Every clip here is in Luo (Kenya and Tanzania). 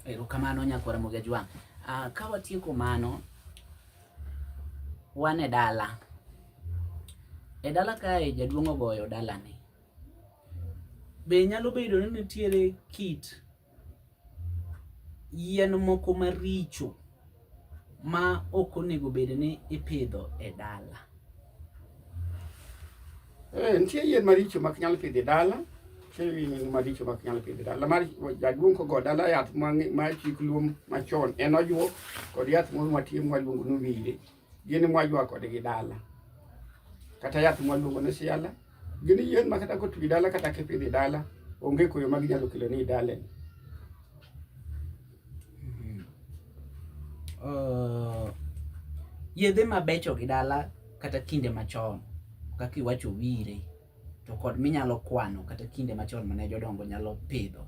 Erokamano nyakwara Mogi Ajwang'. Uh, ka watieko mano, wan e dala. E dala kae jaduong' ogoyo dalani. Be nyalo bedo ni nitiere kit yien moko maricho ma ok onego bed ni ipidho e dala? Eh, nitie yien maricho mak nyal pidho e dala chewing maricho mak nyal pidho dala mar jaduong' kogo dala yath ma chik luom machon en ojuo kod yath moro matie mwaluongo ni wile gini mwajwa kodgi dala kata yath mwaluongo ni siala gin yien ma kata kotwi dala kata kipidhi dala onge koyo ma ginyalo kelo ni dale uh, yedhe mabecho gi dala kata kinde machon kaka iwacho wire to kod minyalo kwano kata kinde machon mane jodongo nyalo pidho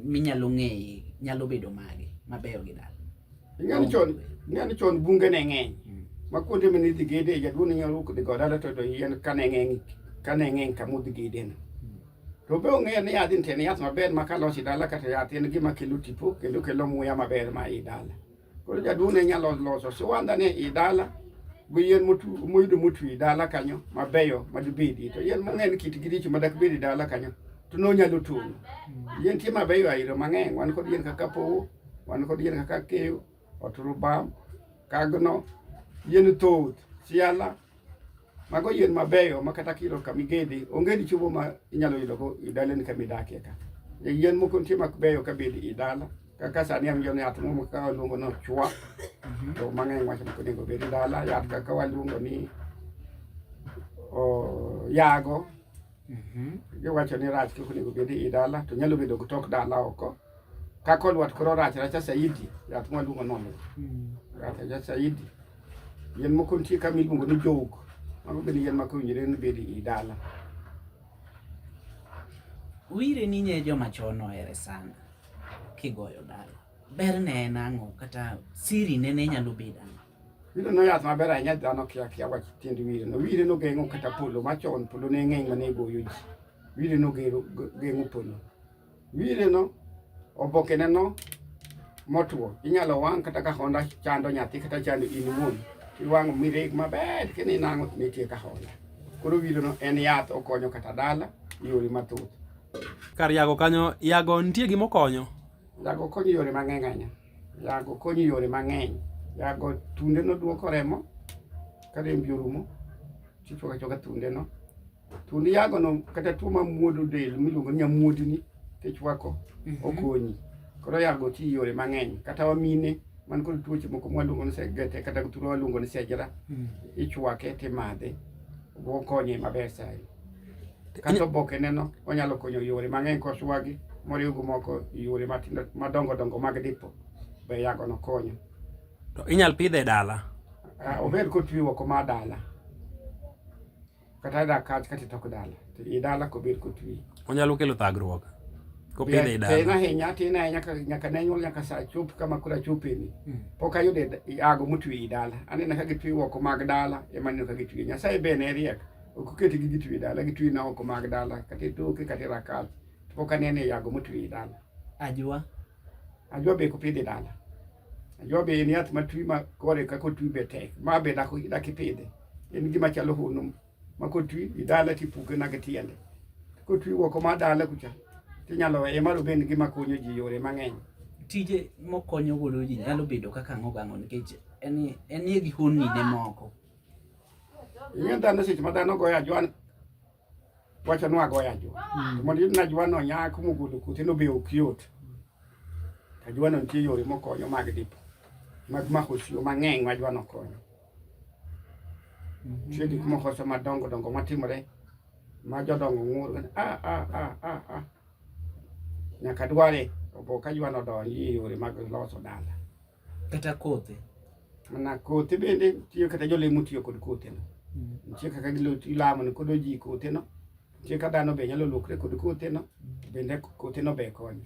minyalo ng'eye nyalo bedo mage mabeyo gi dala ng'ani chon ng'ani chon bunge ne ng'eny hmm. ma kuonde mane idhi gede jaduong' ne nyalo dhi go dala to to yien kane ng'eny kane ng'eny kama udhi gede no hmm. to be ong'eyo ni yath nitie ni yath maber ma kalosi dala kata yath en gima kelo tipo kendo kelo muya maber ma i dala Koro jaduong' ne nyalo loso siwanda ni i dala gi yien moyudo motwi i dala kanyo mabeyo madibedi to yien mang'eny kitgi richo madak bedi dala kanyo to nonyalo tong'o. Yien tie mabeyo airo mang'eny wan kod yien kaka powo, wan kod yien kaka keyo, oturubam, kagno, yien thoth, siala. Mago yien mabeyo ma kata kilo kama igedhi onge ni chiemo ma inyalo yudogo i dalani kama idakie ka. E yien moko nitie mabeyo ka bed i dala kaka sani awinjo ni yath moro kaka waluongo ni ochwa mhm. to mang'eny wacho ni onego bed i dala yath kaka waluongo ni yago mhm. giwacho ni rach kik onego bed i dala to nyalo bedo gi tok dala oko Kaka olwat koro rach racha saidi, yath mwa luongo nono. Mm. Rach racha saidi. Yien moko nitie kama iluongo ni jowuk. Mago bende yien maka owinjore ni bedi i dala. Wire ni nye joma chon ohere sana kigoyo dala. Ber ne en ang'o kata siri ne ne nyalo bedo ang'o? Wire no yath maber ahinya dhano kia kia wach tiend wire no. Wire no geng'o kata polo machon polo ne ng'eny mane goyo ji. Wire no geng'o polo. Wineno, obokeneno motwo, inyalo wang' kata ka honda chando nyathi kata chando in wuon. Iwang'o mireg maber kendo inang'o nitie ka honda. Koro wineno en yath okonyo kata dala yore mathoth. Kar yago kanyo, yago nitie gima okonyo? Yago konyo yore mang'eny ahinya. Yago konyo yore mang'eny. Yago tunde no duoko remo ka rembi orumo, tichwako achwaka tunde no. to ni yago no kata tuo ma muodo del miluongo ni nyamuodi ni kichwako mhm. okonyi koro yago ti yore mang'eny kata wamine man kod tuoche moko mwaluongo ni segete kata tuo waluongo ni sejra mhm. ichwake timadhe okonye maber sai kata oboke neno onyalo konyo yore mang'eny koswagi moriw gi moko yore matindo madongo dongo mag dipo be yago no konyo to inyal pidhe dala ah, ober kotwi oko ma dala kata dak kach kata tok dala to i dala kobir kotwi onyalo kelo thagruok kopidhe i dala tin ahinya tin ahinya nyaka ne nyuol nyaka sa chop kama kura chopeni hmm. pok ayude ago motwi i dala aneno ka gitwi oko mag dala ema neno ka gitwi nyasaye be ne riek ok oketi gi gitwi i dala gitwi na oko mag dala kata itoke kata rakach to pok aneno i ago motwi i dala ajwa ajwa be kopidhe dala Najua be en yath matwi ma kore kaka otwi be tek. Ma be dako daki pidhe. En gima chalo hono ma kotwi idala tipuke na tiende. Kotwi woko ma dala kucha tinyalo weye maro be en gima konyo ji yore mang'eny. Tije mokonyo godo ji nyalo bedo kaka ang'o gang'o nikech en en gi honni ne moko. Ing'e dhano seche ma dhano goyo ajwan wacha nwagoyo ajwa mm. mondo iyud ni ajwano nyak mogolo kothe no be ok yot ajwano nitie yore mokonyo mag dipo mag mako sio mang'eny ma ajwano konyo mm-hmm. nitie gik moko sa madongo dongo matimore ma jodongo ng'ur ah, ah, ah, nyaka dware obo ka ajwano donji e yore mag loso dala Kata kothe. Mana kothe bende tiyo kata jolemo tiyo kod kothe no. Mm. Nitie kaka gilamo ni kod oji kothe no. Nitie kaka dhano be nyalo lokre kod kothe no. Mm. Bende kothe no be konyo.